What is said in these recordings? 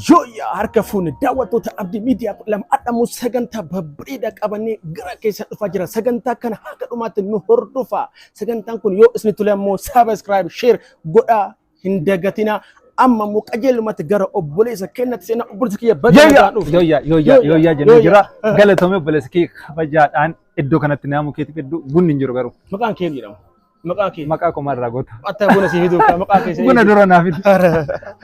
Yooyyaa harka fuune daawwattoota Abdii Miidiyaa kudha lama adhamu sagantaa babbareedaa qabannee gara keessa dhufaa jira. Sagantaa kana haga dhumaatti nu hordofaa. Sagantaan kun yoo isin tole ammoo saabskraayib, sheer godhaa hin dagatinaa amma immoo qajeelumatti gara obboleessa kennatti seenaa obboleessa kiyya baga Yooyyaa nagaan dhufte. yooyyaa yooyyaa Yooyyaa, yooyyaa jennee yooyyaa. jira. Galatoomii obboleessa kee kabajaadhaan iddoo kanatti naamuu keetiif hedduu bunni hin jiru garuu. Maqaan kee jedhama. Maqaa kee. Maqaa qomaa irraa goota. Atta buna si fiduu kan maqaa kee. Buna dura naaf hin.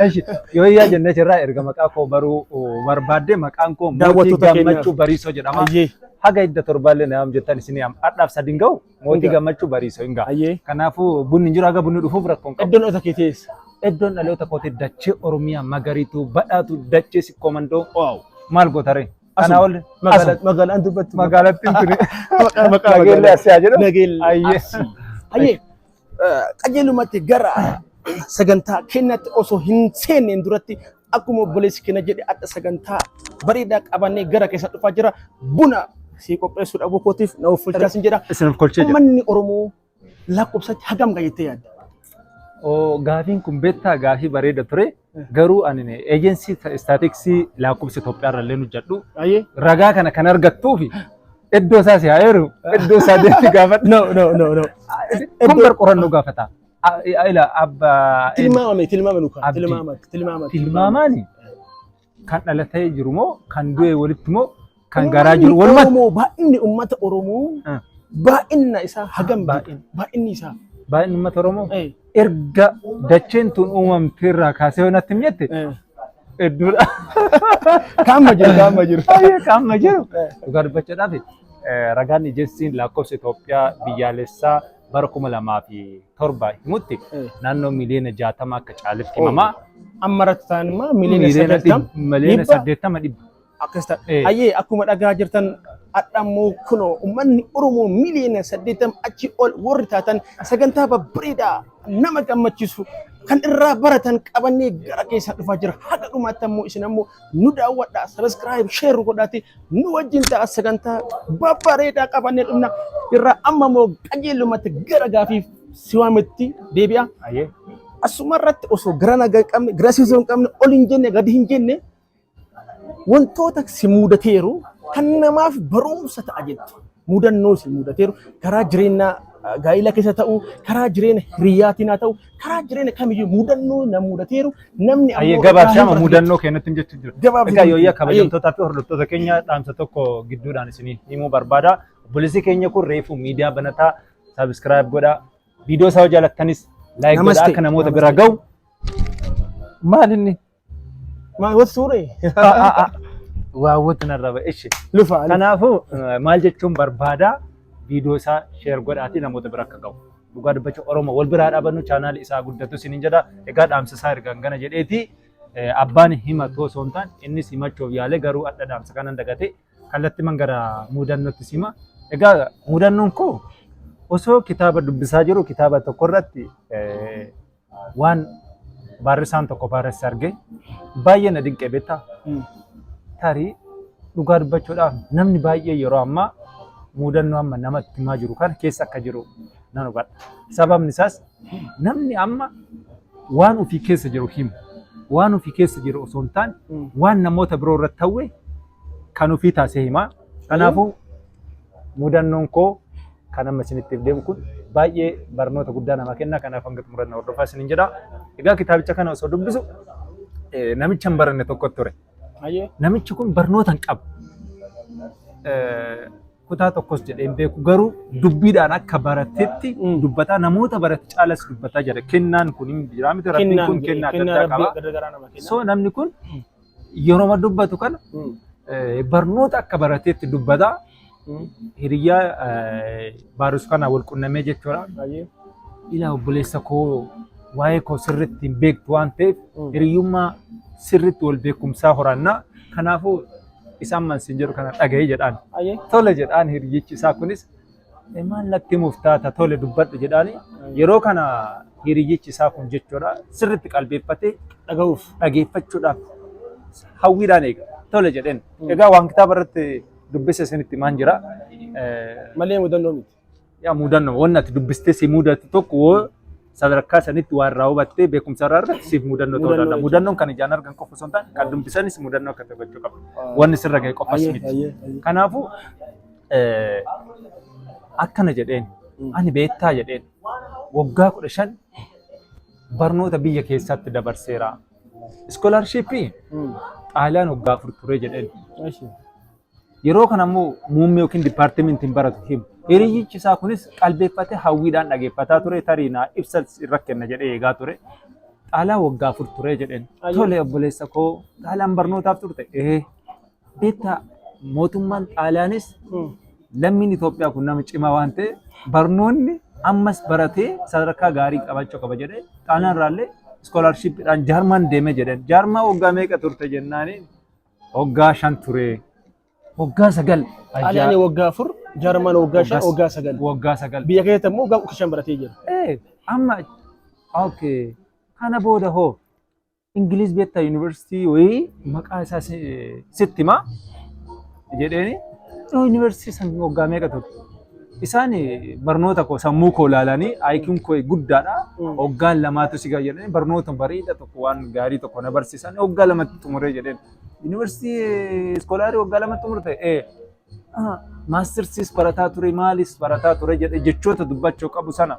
Eshi yooyyaa jennee jirraa erga maqaa koo baruu oh, barbaadde maqaan koo mootii Daawwattoota keenyaaf. gammachuu bariisoo jedhama. Ayyee. Haga idda torbaallee naam jettan isin yaam. Adhaaf sadin ga'u Mootii Egaa. gammachuu bariisa hin ga'a. Ayyee. Kanaafuu bunni hin jiru haga bunni dhufuuf rakkoon qabu. Iddoon ota kee teessa. Iddoon dhaloota kootee dachee Oromiyaa magariituu badhaatu dachee sikkoo mandoo Waaw. maal gootaree? Kanaa ol Magaalaa magaalaan dubbattu. magaalattiin tuni. Maqaa maqaa Nageellee magaalaa. asiyaa jedhu. Nageellee Ayyee. asii. Ayyee. Qajeelumatti gara sagantaa keenyatti osoo hin seenneen duratti Akkuma obboleessi keenya jedhe adda sagantaa bareedaa qabannee gara keessa dhufaa jira. Buna sii qopheessuu dhabuu kootiif na uffachaa sin jedha. Isin kolchee jira. Uummanni Oromoo lakkoofsatti hagam ga'a jettee yaadda? Oo, Gaafiin kun beektaa gaafii bareeda ture. Garuu ani eejensii istaatiksii lakkoofsa Itoophiyaa irra illee hojjedhu. Ayyee. Ragaa kana kan argattuu fi iddoo isaa si haa eeru. Iddoo isaa deemti gaafadhu. No, no, no, no. Kun bar qorannoo gaafata. A- a- ila abba in- Tilmaamame tilmaame nu kaa Abdi. tilmaama tilmaama tilmaamaani kan dhalatee jiru moo kan du'e walitti moo kan garaa jiru Uummanni walumatti Oromoo baay'inni uummata Oromoo Ah. baay'inna isaa hagam Baay'in. beekta? baay'inni isaa baay'inni uummata Oromoo eh, erga dacheen tun uumamte irraa kaasee wanatti hin jette eh. hedduudha. kaamma jiru kaamma jiru Baay'ee qaama jiru. Eh. Dhugaa dubbachuudhaaf eh, ragaan ijeessiin lakkoofsa Itoophiyaa biyyaalessaa bara 2007 himutti Eh. naannoo miliyoona 60 akka caaletti Oh. himamaa. Amma irratti ta'an immoo miliyoona Miliyoona 80 dhib- miliyoona dhibba? 80 dhibba. akkas ta'a. Eh. Ayyee akkuma dhagaa jirtan hadhammoo kunoo uummanni Oromoo miliyoona 80 achi ol warri taatan sagantaa babbareedaa nama gammachiisu kan irraa baratan qabannee gara keessaa dhufaa jira. Haga dhumaatti ammoo isin ammoo nu daawwadhaa sabiskiraayib sheer godhaati nu wajjin ta'a sagantaa babbareedaa qabannee dhumna irraa amma immoo qajeelumatti gara gaafiif si waametti deebi'a. Ayyee. Asuma irratti osoo gara nagaa hin qabne gara siisoo hin qabne ol hin jenne gadi hin jenne wantoota si mudateeru kan namaaf barumsa ta'a jettu. mudannoo isin mudateeru karaa jireenyaa gaa'ila keessa ta'u karaa jireenya hiriyyaatiin haa ta'u karaa jireenya kamiyyuu mudannoo na mudateeru namni Ayyee gabaabsama mudannoo keenyatti jechuu jiru. Gabaabsama. Egaa yooyyaa kabajamtootaa fi hordoftoota keenya dhaamsa tokko gidduudhaan isinii himuu barbaada. Obboleessi keenya kun reefu miidiyaa banataa sabiskiraayib godhaa. Viidiyoo isaa jaalattanis laayik godhaa Namaste. akka namoota bira gahu. Maal inni? Maal wal suuree? Waawwatu narra ba'e. Ishi. Lufa. Kanaafuu eh, maal jechuun barbaada viidiyoo isaa sheer godhaatii namoota bira akka ga'u. Dhugaa dubbacha Oromoo wal biraa dhaabannu chaanaali isaa guddatu isiniin jedha. Egaa dhaamsa isaa ergaan gana jedheeti eh, abbaan hima too osoo hin taane innis himachuuf yaale garuu adda dhaamsa kanan dagate kallatti man gara muudannootti sima. Egaa muudannoon koo osoo kitaaba dubbisaa jiru kitaaba tokko irratti eh, waan baarrisaan tokko baarresse argee baay'ee na dinqee beektaa tarii dhugaa dubbachuudhaaf namni baay'ee yeroo ammaa muudannoo amma namatti himaa jiru kana keessa akka jiru nan hubadha. Sababni isaas namni amma waan ofii keessa jiru himu waan ofii keessa jiru osoo hin taane waan namoota biroo irratti ta'e kan ofii taasee himaa. Kanaafuu mudannoon koo kan amma isinitti deemu kun baay'ee barnoota guddaa nama kenna kanaaf hanga xumuranna hordofaa isinin jedha. Egaa kitaabicha kana osoo dubbisu namicha hin baranne tokko ture. Namichi kun barnoota hin qabu. Kutaa tokkos jedhee hin beeku garuu dubbiidhaan akka baratetti dubbataa namoota barate caalas dubbataa jira. Kennaan kun hin jira miti rabbiin kun kennaa adda addaa qaba. So namni kun yeroma dubbatu kana eh, barnoota akka barateetti dubbata. Hiriyyaa eh, baarus kana wal qunnamee jechuudha. Baay'ee. Ilaa obboleessa koo waa'ee koo sirriitti hin beektu waan ta'eef Mm. hiriyyummaa sirriitti wal beekumsaa horannaa. Kanaafuu isaan mansiin jedhu kana dhaga'ee jedhaan. Baay'ee. Tole jedhaan hiriyyichi isaa kunis Maal natti himuuf taata tole dubbadhu jedhaani. Yeroo kana hiriyyichi isaa kun jechuudha sirriitti qalbeeffatee dhaga'uuf dhageeffachuudhaaf hawwiidhaan eega. Tole jedheen. Egaa waan kitaaba irratti dubbise isinitti himaan jira. Malee mudannoo miti. Yaa mudannoo wanni ati dubbistee si mudatu tokko sadarkaa sanitti waan irraa hubattee beekumsa irraa irratti siif mudannoo ta'uu danda'a. Mudannoon kan ijaan argan qofa osoo hin taane kan dubbisanis mudannoo akka taphachuu qabu. Wanni sirra ga'e qofas miti. Kanaafuu akkana jedheen ani beektaa jedheen waggaa kudha shan barnoota biyya keessaatti dabarseera. Iskoolaarshiippii xaaliyaan waggaa afur ture jedheen. Yeroo kana immoo muummee yookiin dipaartimentiin baratu himu. Hiriyyichi isaa kunis qalbeeffatee hawwiidhaan dhageeffataa ture tarii naa ibsa irra kenna jedhee eegaa ture. Xaalaa waggaa afur ture jedheen. Tole obboleessa koo xaalaan barnootaaf turte. Ee beektaa mootummaan xaalaanis lammiin Itoophiyaa kun nama cimaa waan ta'e barnoonni ammas baratee sadarkaa gaarii qabachuu qaba jedhee xaalaan irraallee iskoolaarshiippiidhaan jaarmaan deeme jedheen. Jaarmaa waggaa meeqa turte jennaaniin Hoggaa shan turee. Hoggaa sagal. Xaaliyaanii waggaa afur, Jarman waggaa shan, waggaa sagal. Waggaa sagal. Biyya keessatti immoo waggaa kudha shan baratee jira. Eh, amma okay. Kana booda hoo Ingiliiz beektaa yuunivarsiitii wayii maqaa isaa si- sitti himaa jedheeni. Yoo yuunivarsiitii san waggaa meeqa turte? Isaan barnoota koo sammuu koo ilaalanii IQn koo guddaadha. Hoggaan lamaatu si gayyadhanii barnoota bareeda tokko waan gaarii tokko na barsiisan hoggaa lamatti xumuree jedheen. Yuunivarsiitii iskoolaarii hoggaa lamatti xumurte ee maastirsiis barataa ture maalis barataa ture jedhe jechoota dubbachuu qabu sana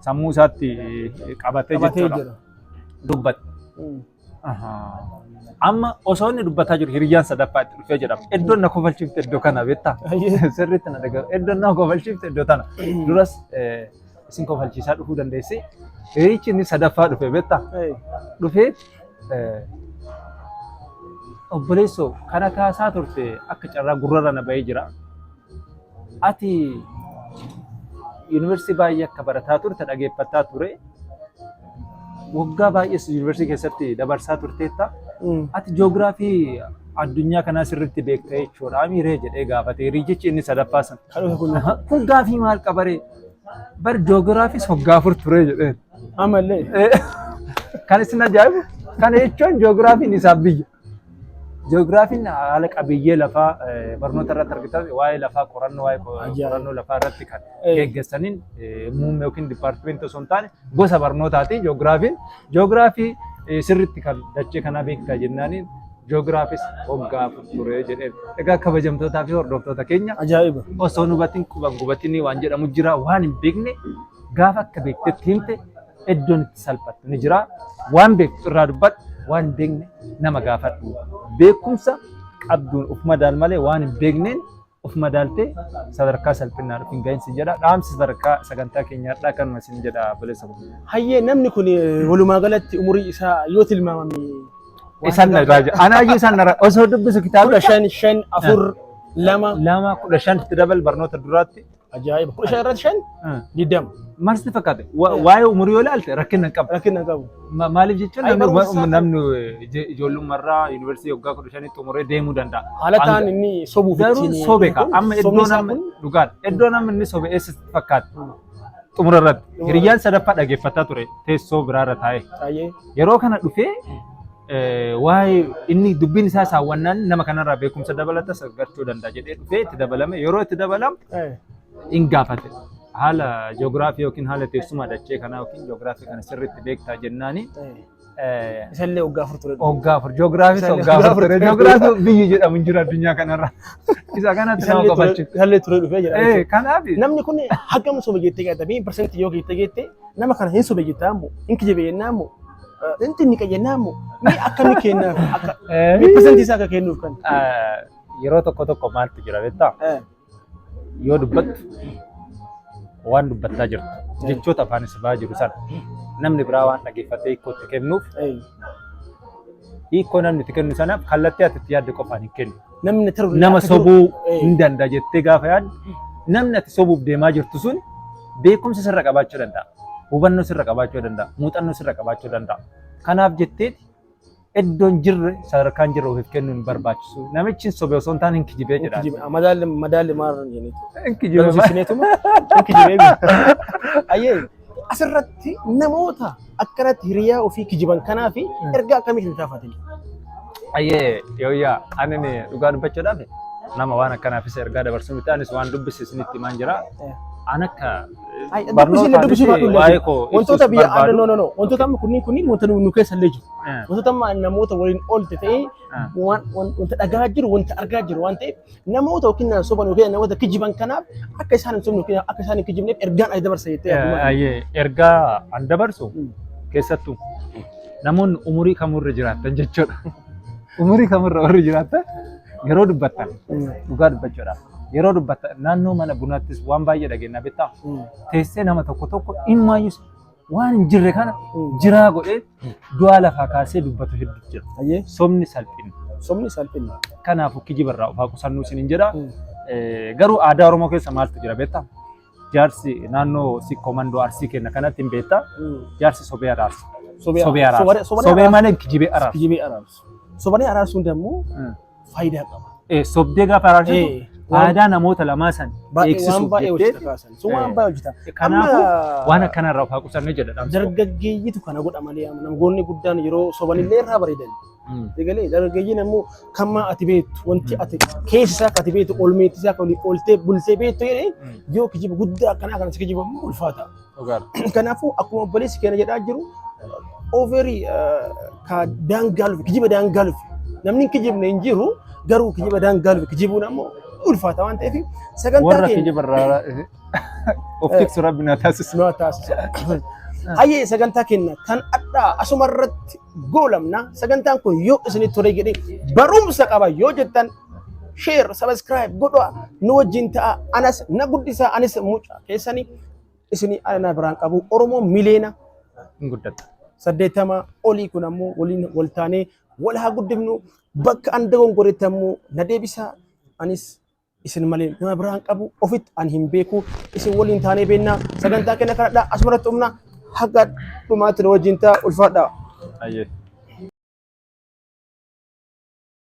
sammuu isaatti qabatee Qabatee jechuudha. jira. Dubbate. Amma osoo inni dubbataa jiru hiriyyaan sadaffaa itti dhufee jedhama. Iddoon na kofalchiifte iddoo kana beektaa? Sirriitti na dhagahu. Iddoon na kofalchiifte iddoo tana. Duras eh, isin kofalchiisaa dhufuu dandeessi. Hiriyichi inni sadaffaa dhufe beektaa? Dhufee eh, obboleessoo kana kaasaa turte akka carraa gurrarra na bahee jira. Ati yuunivarsiitii baay'ee akka barataa turte dhageeffataa ture. Waggaa baay'ees yuunivarsiitii keessatti dabarsaa turteetta. Ati joogiraafii addunyaa kanaa sirriitti beekta jechuudha. Amiiree jedhee gaafate hiriyichi inni sadaffaa sun. Kun gaafii maal qabaree? Bar joogiraafiis waggaa afur ture jedhee. Amallee. Kan isin ajaa'ibu kana jechuun joogiraafiin isaaf biyya. Ji'oogiraafiin haala qabiyyee lafaa barnoota irratti argitan waa'ee lafaa qorannoo waa'ee qorannoo lafaa irratti kan geggeessaniin muummee yookiin dipaartimentii osoo hin taane gosa barnootaati ji'oogiraafiin. Ji'oogiraafii sirriitti kan dachee kanaa beektaa jennaaniin ji'oogiraafis waggaa afur ture jedheen. Egaa kabajamtootaa fi hordoftoota keenya Ajaa'iba. osoo nu hubatin quban gubatinii waan jedhamu jira waan hin beekne gaafa akka beektetti himte iddoon itti salphattu ni jira. Waan beektu irraa dubbadhu, waan hin beekne nama gaafadhu. Beekumsa qabduun of madaal malee waan hin beekneen of madaaltee sadarkaa salphinnaa dhufu hin gahinsi jedha. Dhaamsi sadarkaa sagantaa keenyaa har'aa kanuma isin jedha obboleessa koo. Hayyee namni kun eh, walumaa galatti umurii isaa yoo tilmaamame waan Isaan na irraa jira. Anaa iyyuu isaan na irraa osoo dubbisu kitaaba kudha shan shan afur lama lama kudha shanitti dabal barnoota duraatti Ajaa'iba. Kudha shan irratti shan Ah. digdama. Maal sitti fakkaate? Wa- Eh. Waa'ee umurii yoo ilaalte rakkina hin qabu. Rakkina hin qabu. Ma- Maaliif jecha Ay, namni barumsa isaa- namni ije- ijoollummarraa yuunivarsiitii waggaa kudha shanitti umuree deemuu danda'a. Haala Hanga- ta'an inni sobuuf Garuu ittiin- sobe ka. kun Amma sobni iddoon isaa amma kun dhugaadha. Iddoon amma inni sobe eessa sitti fakkaate? Xumura irratti. Xumura Hiriyyaan sadaffaa dhaggeeffataa ture teessoo biraarra taa'ee. baay'ee Yeroo kana dhufee waa'ee inni dubbiin isaa saawwannaan nama kanarraa beekumsa dabalata gargachuu danda'a jedhee dhufee itti dabalame yeroo itti dabalamu hin gaafate. Haala ji'oogiraafii yookiin haala teessuma dachee kanaa yookiin ji'oogiraafii kana sirriitti beektaa jennaani. Isallee waggaa afur ture. Waggaa afur ji'oogiraafii waggaa afur ture ji'oogiraafii biyyi jedhamu hin jiru addunyaa kanarra. Isa kanatti nama qabachu. Isallee ture dhufee jedha. Kanaaf Namni kun hagam sobe jettee gaadame parsantii yoo geettee geettee nama kana hin sobe jettaa ammoo hin kijibe jennaa ammoo Inti inni qayyannaa immoo mee akka inni kennaaf akka Eh, mee persentii isaa akka kennuuf kan. ah, yeroo tokko tokko maaltu jira beektaa? Eh, Yoo dubbattu waan dubbattaa jirtu jechoota afaan si ba'aa jiru sana namni biraa waan dhaggeeffatee hiikkootti kennuuf eh. hiikkoo namni itti kennu sanaaf kallattii ati itti yaadde qofaan hin kennu. Namni taru nama sobuu Eh. hin danda'a jettee gaafa yaaddu namni ati sobuuf deemaa jirtu sun beekumsa sirra qabaachuu danda'a. Hubannoo sirra qabaachuu danda'a. Muuxannoo sirra qabaachuu danda'a. Kanaaf jettee iddoon jirre sadarkaan jirre ofiif kennuu hin barbaachisu. Namichi sobe osoo hin taane hin kijibee jedha. Madaalli madaalli maarra hin jenneetu. Hin kijibee. Galmsiisineetuma hin kijibee. Ayyee. Asirratti namoota akkanatti hiriyaa ofii kijiban kanaaf ergaa akkamitti hin taafatin? Ayyee yooyyaa ani ni dhugaa dubbachuudhaaf nama waan akkanaafis ergaa dabarsuu miti anis waan dubbise isinitti himaan jira. An akka Ay, dubbisi barnoota illee dubbisuu miti baadhu waa'ee illee. koo Wantoota ibsuus biyya barbaadu. no no no wantoota amma kunniin kunniin wanta nu nu keessa illee jiru. Eh, Wantoota amma namoota waliin oolte ta'ee eh, waan- waan- wanta dhagaa jiru wanta argaa jiru waan ta'eef Namoota yookiin na soban yookiin namoota kijiban kanaaf akka isaan hin sobne yookiin akka isaan hin kijibneef ergaan ani dabarsa jettee yaaddu maali? Ayyee ergaa an dabarsu Mm. keessattuu namoonni umurii kamurra jiraatan jechuudha. Umurii kamurra warri jiraatan yeroo dubbattan Mm. dhugaa dubbachuudha. Yeroo dubbattan naannoo mana bunaattis waan baay'ee dhageenya beektaa Mm. teessee nama tokko tokko dhimma iyyuu waan hin jirre kana jiraa godhee du'aa lafaa kaasee dubbatu hedduutu jira. Ayyee Sobni salphina. sobni salphina. Kanaafuu kijiba irraa of haa qusannuu isiniin jedha. Eh, Garuu aadaa Oromoo keessa maaltu jira beektaa? Jaarsi naannoo sikkoo mandoo arsii kenna kanatti hin beektaa? Jaarsi sobee araarsa. Sobee Sobee araarsa. araarsa. Sobee malee kijibee araarsa. Kijibee araarsu. Sobanii araarsuun dammoo Mm. faayidaa qaba. Eh, sobdee gaafa araarsitu Eh, waan- faayidaa namoota lamaa san Baay'ee waan eegsisuuf baay'ee jettee hojjeta kaasan. Sun waan Eh. baay'ee hojjeta. kanaafuu Amma- waan akkana irraa of haa qusanne jedha dhaamsi koo. dargaggeeyyitu kana godha malee amma namoonni guddaan yeroo sobanillee irraa bareedan. Mm. Egalee dargaggeeyyiin ammoo kan maa ati beektu wanti ati keessa isaa akka ati beektu olmeetti isaa akka olii oltee bultee beektu jedhee Mm. yoo kijiba guddaa akkanaa kana si kijiba immoo ulfaata. Dhugaadha. Kanaafuu akkuma obboleessi keenya jedhaa jiru ooverii ka daangaaluuf kijiba daangaaluuf namni hin kijibne hin jiru garuu kijiba daangaaluuf kijibuun ammoo ulfaata waan ta'eef sagantaa Warra keenya kijiba irraa of tiksu rabbi na taasisu. nu haa taasisu. Hayyee sagantaa keenya kan addaa asuma irratti goolabna sagantaan kun yoo isinitti tole jedhee barumsa qaba yoo jettan share subscribe godhaa nu wajjin ta'a anas na guddisaa anis mucaa keessanii isinii ala na biraan qabu Oromoo miliyoona hin guddatu. saddeettama olii kun ammoo waliin wal taanee wal haa guddifnu bakka an dogongoretti ammoo na deebisaa anis isin malee nama biraan qabu ofitti an hin beeku isin waliin taanee beennaa sagantaa kenna kanadha asumarratti humna haga dhumaatti na wajjin ta'a ulfaadhaa. Ayyee.